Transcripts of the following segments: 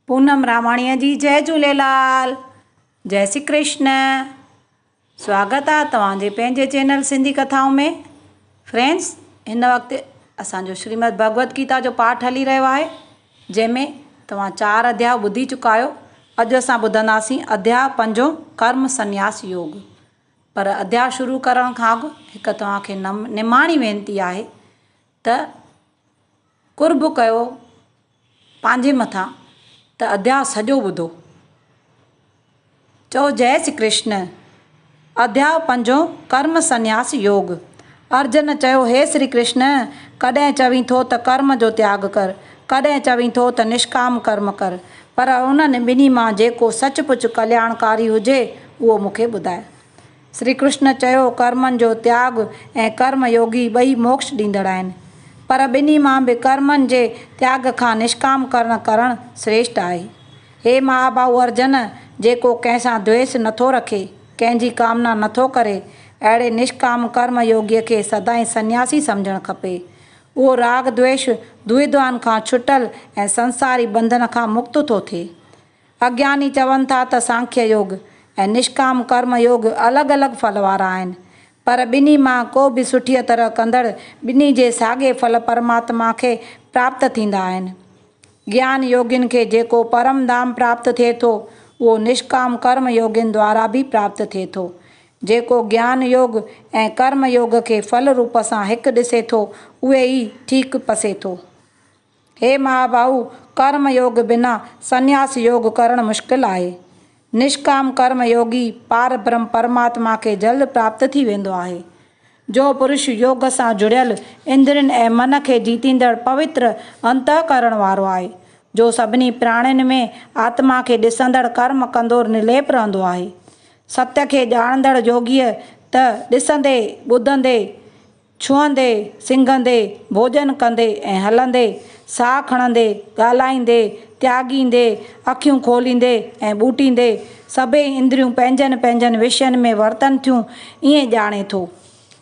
پونم راماڻيء جي جئه جهوليلال جئه سي ڪرشن سواگت آ توهان جي پنهنجي چينل سنڌي ڪٿائون ۾ فرينڊس هن وقت اسان جو شريمد ڀڳوت گيتا جو پاٺ هلي رهيو آهي جنهن ۾ توهان چار اڌيا ٻڌي چڪا آهيو اڄ اسان ٻڌنداسين اڌيا پنجون ڪرم سنياس يوگ پر اڌيا شروع ڪرڻ کان اڳ هڪ توهان کي نم نماڻي وينتي آهي ته قرب ڪيو پنهنجي مٿان ته اڌيا سڄو ٻڌو. چئو جئه شي ڪرشن. اڌيا پنجون ڪرم سنياس يوگ. ارجن چيو هي شري ڪرشن ڪڏهن چوين ٿو ته ڪرم جو تياڳ ڪر ڪڏهن چوين ٿو ته نشڪام ڪرم ڪر پر انهن ٻنهي مان جيڪو سچ پچ ڪلياڻڪاري هجي اهو مون کي ٻڌاء. شري ڪرشن چيو، ڪرمن جو تياڳ ۽ ڪرم يوگي ٻئي موڪش ڏيندڙ آهن، پر ٻنهي مان به ڪرمن جي تياڳ کان نشڪام ڪرڻ ڪرڻ سريشٽ آهي. هي مهاڀائو ارجن، جيڪو ڪنهن سان دويس نه ٿو رکي، ڪنهن جي ڪامنا نه ٿو ڪري، اهڙي نشڪام ڪرم يوگي کي سدائين سنياسي سمجهڻ کپي. اهو راڳ دويش، دوئدوان کان ڇٽل ۽ سنساري ٻنڌن کان مڪت ٿو ٿئي. اگياني چون ٿا ته سانکيه يوگ ۽ نشڪام ڪرم يوگ الڳ الڳ ڦل وارا آهن، پر ٻنهي مان ڪو به سٺيء طرح ڪندڙ ٻنهي جي ساڳئي ڦل پرماتما کي پراپت ٿيندا آهن. گيان يوگين کي جيڪو پرم ڌام پراپت ٿئي ٿو، اهو نشڪام ڪرم يوگين دوارا به پراپت ٿئي ٿو. جيڪو گيان يوگ ۽ ڪرم يوگ کي ڦل روپ سان هڪ ڏسي ٿو، اهي ئي ٺيڪ پسي ٿو. هي مهاباهو! ڪرم يوگ بنا سنياس يوگ ڪرڻ مشڪل آهي. نشڪام ڪرم يوگي پار برهم پرماتما کي جلد پراپت ٿي ويندو آهي. جو پرش يوگ سان جڙيل، اندرين ۽ من کي جيتيندڙ پوتر انتهڪرڻ وارو آهي، جو سڀني پراڻين ۾ آتما کي ڏسندڙ ڪرم ڪندو نرليپ رهندو آهي. ستيء کي ڄاڻندڙ يوگيء ته ڏسندي، ٻڌندي، ڇهندي، سنگهندي، ڀوڄن ڪندي ۽ هلندي، ساهه کڻندي، ڳالهائيندي، تياڳيندي، اکيون کوليندي ۽ ٻوٽيندي، سڀئي اندريون پنهنجن پنهنجن وشين ۾ ورتن ٿيون، ائين ڄاڻي ٿو.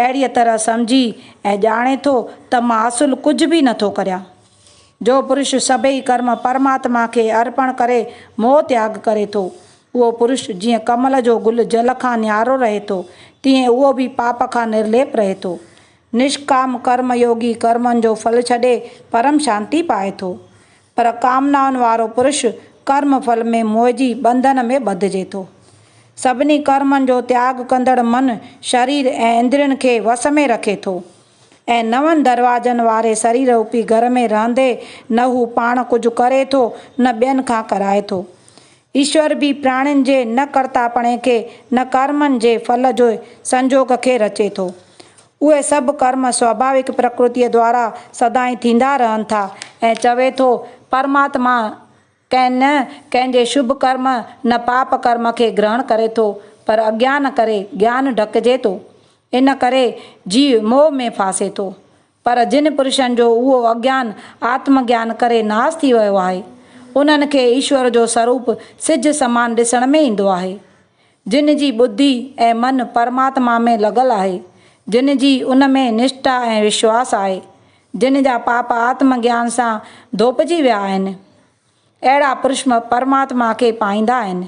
اهڙيء طرح سمجهي ۽ ڄاڻي ٿو ته مان اصل ڪجهه به نٿو ڪريان. جو پرش سڀئي ڪرم پرماتما کي ارپڻ ڪري موهه تياڳ ڪري ٿو. اهو پرش جيئن ڪمل جو گل جل کان نيارو رهي ٿو، تيئن اهو به پاپ کان نرليپ رهي ٿو. نشڪام ڪرم يوگي ڪرمن جو ڦل ڇڏي پرم شانتي پائي ٿو. پر ڪامنائن وارو پرش ڪرم ڦل ۾ موهجي ٻنڌن ۾ ٻڌجي ٿو. سڀني ڪرمن جو تياڳ ڪندڙ من شرير ۽ اندرين کي وس ۾ رکي ٿو. ۽ نون دروازن واري سري روپي گهر ۾ رهندي نه هو پاڻ ڪجهه ڪري ٿو نه ٻين کان ڪرائي ٿو. ايشور به پراڻين جي نه ڪرتاپڻي کي نه ڪرمن جي ڦل جي سنجوڳ کي رچي ٿو. اهي سڀ ڪرم سواڀاوڪ پرڪرتيء دوارا سدائين ٿيندا رهن ٿا ۽ چوي ٿو، پرماتما، ڪنهن نه ڪنهن جي شڀ ڪرم نه پاپ ڪرم کي گرهڻ ڪري ٿو پر اجيان ڪري جيان ڍڪجي ٿو. ان ڪري جيء موهه ۾ ڦاسي ٿو. پر جن پرشن جو اهو اجيان آتم جيان ڪري ناس ٿي ويو آهي، انهن کي ايشور جو سروپ سج سمان ڏسڻ ۾ ايندو آهي. جن جي ٻڌي ۽ من پرماتما ۾ لڳل آهي، جن جي ان ۾ نشٽا ۽ وشواس آهي، جن جا پاپ آتم گيان سان ڌوپجي ويا آهن، اهڙا پرشم پرماتما کي پائيندا آهن.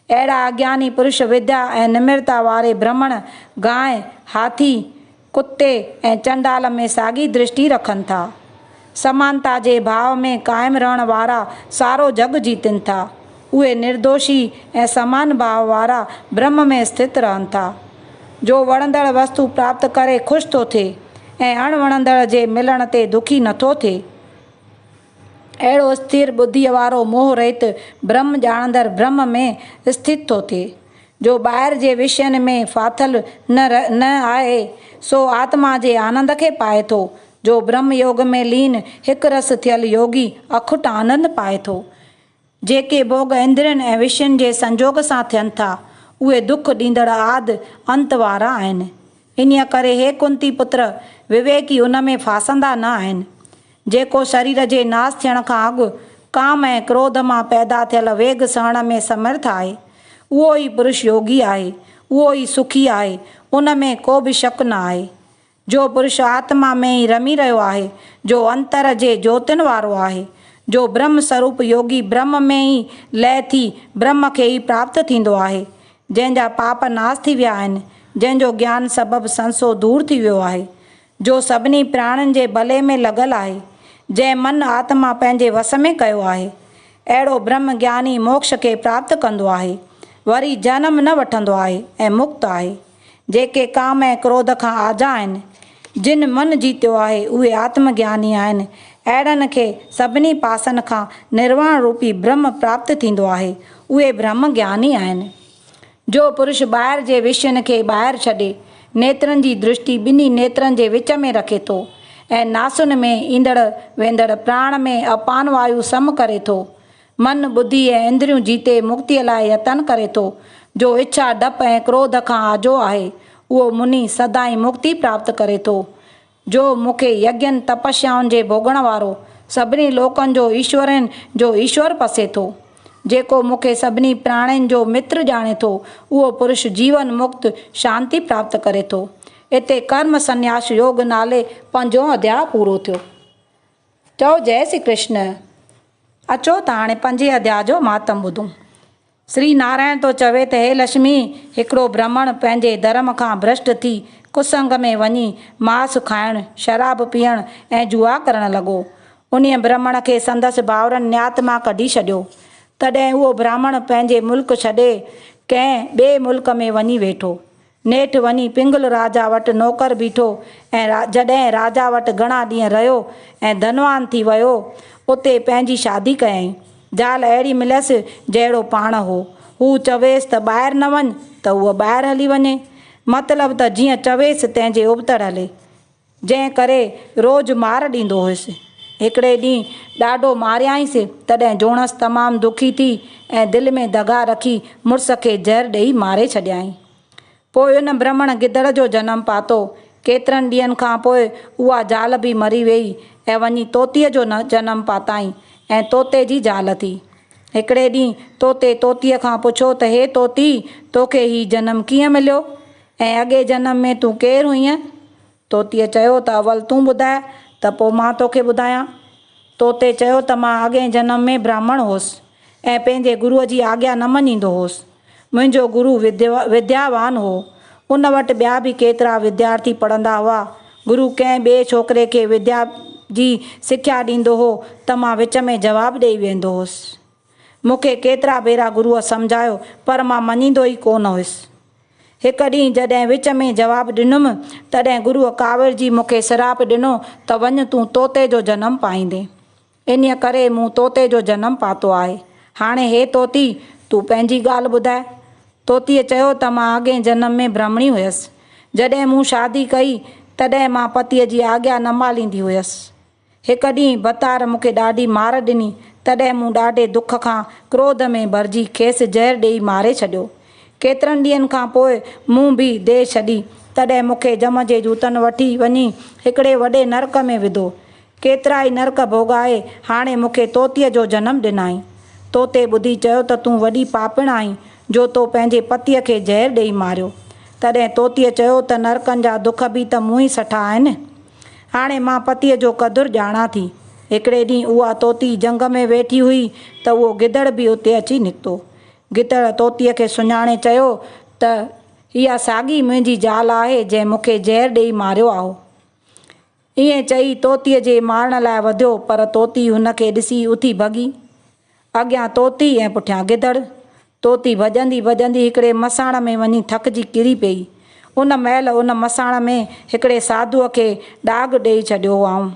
اهڙا اگياني پرش وديا ۽ نمرتا واري برهمڻ، گانء، هاٿي، ڪتي ۽ چنڊال ۾ ساڳي درشٽي رکن ٿا. سمانتا جي ڀاء ۾ قائم رهڻ وارا سارو جڳ جيتن ٿا. اهي نردوشي ۽ سمان ڀاء وارا برهم ۾ اسٿت رهن ٿا. جو وڻندڙ وستو پراپت ڪري خوش ٿو ٿئي ۽ اڻ وڻندڙ جي ملڻ تي دکي نٿو ٿئي. اهڙو استير ٻڌيء وارو موهه رهت برهم ڄاڻندڙ برهم ۾ استٿت ٿو ٿئي، جو ٻاهر جي وشين ۾ ڦاٿل نه ر نه آهي، سو آتما جي آنند کي پائي ٿو، جو برهم يوگ ۾ لين هڪ رس ٿيل يوگي اکٽ آنند پائي ٿو. جيڪي ڀوڳ اندرين ۽ وشين جي سنجوڳ سان ٿين ٿا، اهي دک ڏيندڙ آد انت وارا آهن. انهيء ڪري هي ڪنتي پتر، وويڪي ان ۾ ڦاسندا نه آهن. جيڪو شرير جي ناس ٿيڻ کان اڳ ڪام ۽ ڪروڌ مان پيدا ٿيل ويڳ سهڻ ۾ سمرٿ آهي، اهو ئي پرش يوگي آهي، اهو ئي سکي آهي، ان ۾ ڪو به شڪ نه آهي. جو پرش آتما ۾ ئي رمي رهيو آهي، جو انتر جي جوتين وارو آهي، جو برهم سروپ يوگي برهم ۾ ئي لئه ٿي برهم کي ئي پراپت ٿيندو آهي، جنهن جا پاپ ناس ٿي ويا آهن، جنهن جو گيان سبب سنسو دور ٿي ويو آهي، جو سڀني پراڻين جي ڀلي ۾ لڳل آهي، جنهن من آتما پنهنجي وس ۾ ڪيو آهي، اهڙو برهم گياني موڪش کي پراپت ڪندو آهي، وري جنم نه وٺندو آهي ۽ مڪت آهي. جيڪي ڪام ۽ ڪروڌ کان آجا آهن. جن من جيتيو آهي، اهي آتم گياني آهن. اهڙن کي سڀني پاسن کان نرواڻ روپي برهم پراپت ٿيندو آهي. اهي برهم گياني آهن. جو پرش ٻاهر جي وشين کي ٻاهر ڇڏي، نيترن جي درشٽي ٻنهي نيترن جي وچ ۾ رکي ٿو ۽ ناسن ۾ ايندڙ ويندڙ پراڻ ۾ اپان وايو سم ڪري ٿو، من، ٻڌي ۽ اندريون جيتي مڪتيء لاء يتن ڪري ٿو، جو اڇا، ڊپ ۽ ڪروڌ کان آجو آهي، اهو مني سدائين مڪتي پراپت ڪري ٿو. جو مون کي يگين، تپسيائن جي ڀوڳڻ وارو، سڀني لوڪن جو ايشورين جو ايشور پسي ٿو. جيڪو مون کي سڀني پراڻين جو متر ڄاڻي ٿو، اهو پرش جيون مڪت، شانتي پراپت ڪري ٿو. اتي ڪرم سنياس يوگ نالي پنجون اڌياء پورو ٿيو. چئو جئه سري ڪرشن. اچو ته هاڻي پنجين اڌيا جو مهاتم ٻڌون. سري نارائڻ ٿو چوي ته هي لشمي هڪڙو برهمڻ پنهنجي ڌرم کان ڀرشٽ ٿي ڪسنگ ۾ وڃي ماس کائڻ، شراب پيئڻ ۽ جوا ڪرڻ لڳو. انهيء برهمڻ کي سندس ڀائرن نيات مان ڪڍي ڇڏيو. تڏهن اهو برهمڻ پنهنجي ملڪ ڇڏي ڪنهن ٻئي ملڪ ۾ وڃي ويٺو. نيٺ وڃي پنگل راجا وٽ نوڪر بيٺو ۽ جڏهن راجا وٽ گهڻا ڏينهن رهيو ۽ ڌنوان ٿي ويو، اتي پنهنجي شادي ڪيائين. زال اهڙي مليس جهڙو پاڻ هو. هو چويس ته ٻاهر نه وڃ ته هوء ٻاهر هلي وڃي. مطلب ته جيئن چويس تنهنجي ابتڙ هلي. جنهن ڪري روز مار ڏيندو هيس. هڪڙي ڏينهن ڏاڍو ماريائينس، تڏهن جوڻس تمام دکي ٿي ۽ دل ۾ دغا رکي مڙس کي زهر ڏيئي ماري ڇڏيائين. پوء ان برهمڻ گدڙ جو جنم پاتو. ڪيترن ڏينهن کان پوء اها زال به مري ويئي ۽ وڃي طوطيء جو جنم پاتائين ۽ طوطي جي زال ٿي. هڪڙي ڏينهن طوطي طوطيء کان پڇيو ته هي طوطي! توکي هي جنم ڪيئن مليو؟ ۽ اڳئين جنم ۾ تون ڪير هئينء؟ طوطيء چيو ته اول تون ٻڌاء ته پوء مان توکي ٻڌايان. طوطي چيو ته مان اڳئين جنم ۾ براهمڻ هوس ۽ پنهنجي گروء جي آگيا نه مڃيندو هوس. منهنجو گرو ودياوان هو. ان وٽ ٻيا به ڪيترا وديارٿي پڙهندا هئا. گرو ڪنهن ٻئي ڇوڪري کي وديا جي سکيا ڏيندو هو ته مان وچ ۾ جواب ڏيئي ويهندو هوس. مون کي ڪيترا ڀيرا گروء سمجهايو، پر مان مڃيندو ئي ڪو نه هيس. هڪ ڏينهن جڏهن وچ ۾ جواب ڏنم، تڏهن گروء ڪاوڙجي مون کي سراپ ڏنو ته وڃ تون طوطي جو جنم پائيندين. انهيء ڪري مون طوطي جو جنم پاتو آهي. هاڻي هي طوطي، تون پنهنجي ڳالهه ٻڌاء. طوطيء چيو ته مان اڳئين جنم ۾ برهمڻي هيس. جڏهن مون شادي ڪئي، تڏهن مان پتيء جي آجيا نه ماليندي هيس. هڪ ڏينهن بتار مون کي ڏاڍي مار ڏني، تڏهن مون ڏاڍي دک کان ڪروڌ ۾ ڀرجي کيس زهر ڏيئي ماري ڇڏيو. ڪيترن ڏينهن کان پوء مون به ديهه ڇڏي، تڏهن مون کي جم جي جوتن وٺي وڃي هڪڙي وڏي نرڪ ۾ وڌو. ڪيترائي نرڪ ڀوڳائي هاڻي مون کي طوطيء جو جنم ڏنائين. طوطي ٻڌي چيو ته تون وڏي پاپڻ آهين، جو تو پنهنجي پتيء کي زهر ڏيئي ماريو. تڏهن طوطيء چيو ته نرڪن جا دک به ته مون ئي سٺا آهن. هاڻي مان پتيء جو قدر ڄاڻان ٿي. هڪڙي ڏينهن اها طوطي جهنگ ۾ ويٺي هئي ته اهو گدڙ به اتي اچي نڪتو. گدڙ طوطيء کي سڃاڻي چيو ته اها ساڳي منهنجي زال آهي جنهن مون کي زهر ڏيئي ماريو آهو. ائين چئي طوطيء جي مارڻ لاء وڌيو پر طوطي هن کي ڏسي اٿي ڀڳي. اڳيان طوطي ۽ پٺيان گدڙ. طوطي ڀڄندي ڀڄندي هڪڙي مساڻ ۾ وڃي ٿڪجي ڪري پيئي. ان مهل ان مساڻ ۾ هڪڙي ساڌوء کي ڏاگهه ڏيئي ڇڏيو هئائون.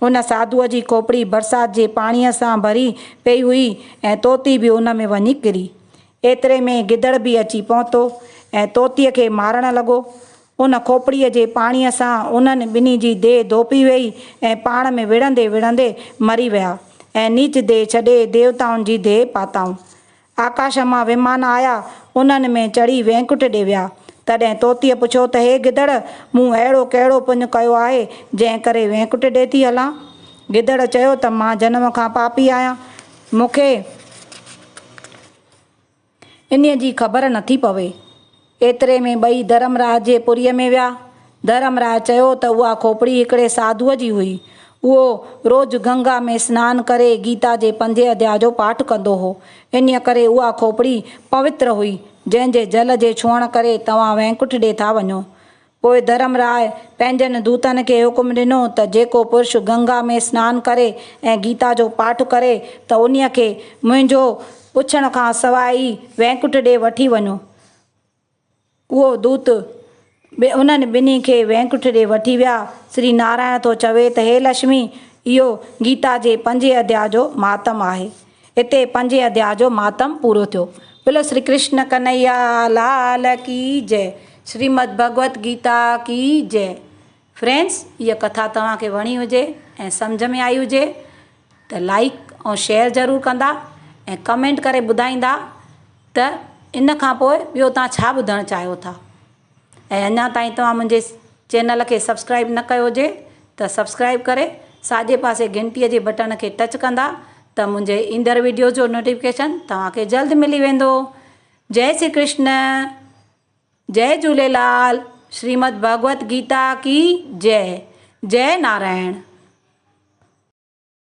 ان ساڌوء جي کوپڙي برسات جي پاڻيء سان ڀري پيئي هئي ۽ طوطي به ان ۾ وڃي ڪري. ايتري ۾ گدڙ به اچي پهتو ۽ طوطيء کي مارڻ لڳو. ان کوپڙيء جي پاڻيء سان انهن ٻنهي جي ديهه ڌوپي ويئي ۽ پاڻ ۾ وڙهندي وڙهندي مري ويا ۽ نيچ ديهه ڇڏي ديوتائن جي ديهه پاتائون. آڪاش مان ومان آيا، انهن ۾ چڙهي وينڪٽ ڏي ويا. تڏهن طوطيء پڇيو ته هي گدڙ، مون اهڙو ڪهڙو پڃ ڪيو آهي، جنهن ڪري وينڪٽ ڏي ٿي هلان؟ گدڙ چيو ته مان جنم کان پاپي آهيان. مون کي. انهيء جي خبر نٿي پوي. ايتري ۾ ٻئي ڌرم راء جي پوريء ۾ ويا. ڌرم راء چيو ته اها کوپڙي هڪڙي ساڌوء جي هئي. اهو روز گنگا ۾ سنان ڪري گيتا جي پنجين اڌيا جو پاٺ ڪندو هو. انهيء ڪري اها کوپڙي پوتر هئي، جنهن جي جل جي ڇهڻ ڪري توهان وينڪٺ ڏي ٿا وڃو. پوء ڌرم راء پنهنجن دوتن کي حڪم ڏنو ته جيڪو پرش گنگا ۾ سنان ڪري ۽ گيتا جو پاٺ ڪري ته انهيء کي منهنجو پڇڻ کان سواء ئي وينڪٽ ڏي وٺي وڃو. اهو دوت به انهن ٻنهي کي وينڪٽ ڏي وٺي ويا. شري نارائڻ ٿو چوي ته هي لشمي! اهو گيتا جي پنجين اڌيا جو مهاتم آهي. هتي پنجين اڌياء جو مهاتم پورو ٿيو. بولو شري ڪرشن ڪنهيا لال ڪي جئه شريمد ڀڳوت گيتا ڪي جئه فرينڊز هيء ڪٿا توهان کي وڻي هجي ۽ سمجهه ۾ آئي هجي ته لائيڪ ۽ شيئر ضرور ڪندا ۽ ڪمينٽ ڪري ٻڌائيندا ته ان کان پوء ٻيو توهان ڇا ٻڌڻ چاهيو ٿا. ۽ اڃا تائين توهان منهنجي چينل کي سبسڪرائيب نه ڪيو هجي ته سبسڪرائيب ڪري ساڄي پاسي گهنٽي جي بٽڻ کي ٽچ ڪندا ته منهنجي ايندڙ ويڊيوز جو نوٽيفڪيشن توهان کي جلد ملي ويندو جئي سري ڪرشن جئي جهوليلال شريمد ڀڳوت گيتا ڪي جئي جئي نارائڻ.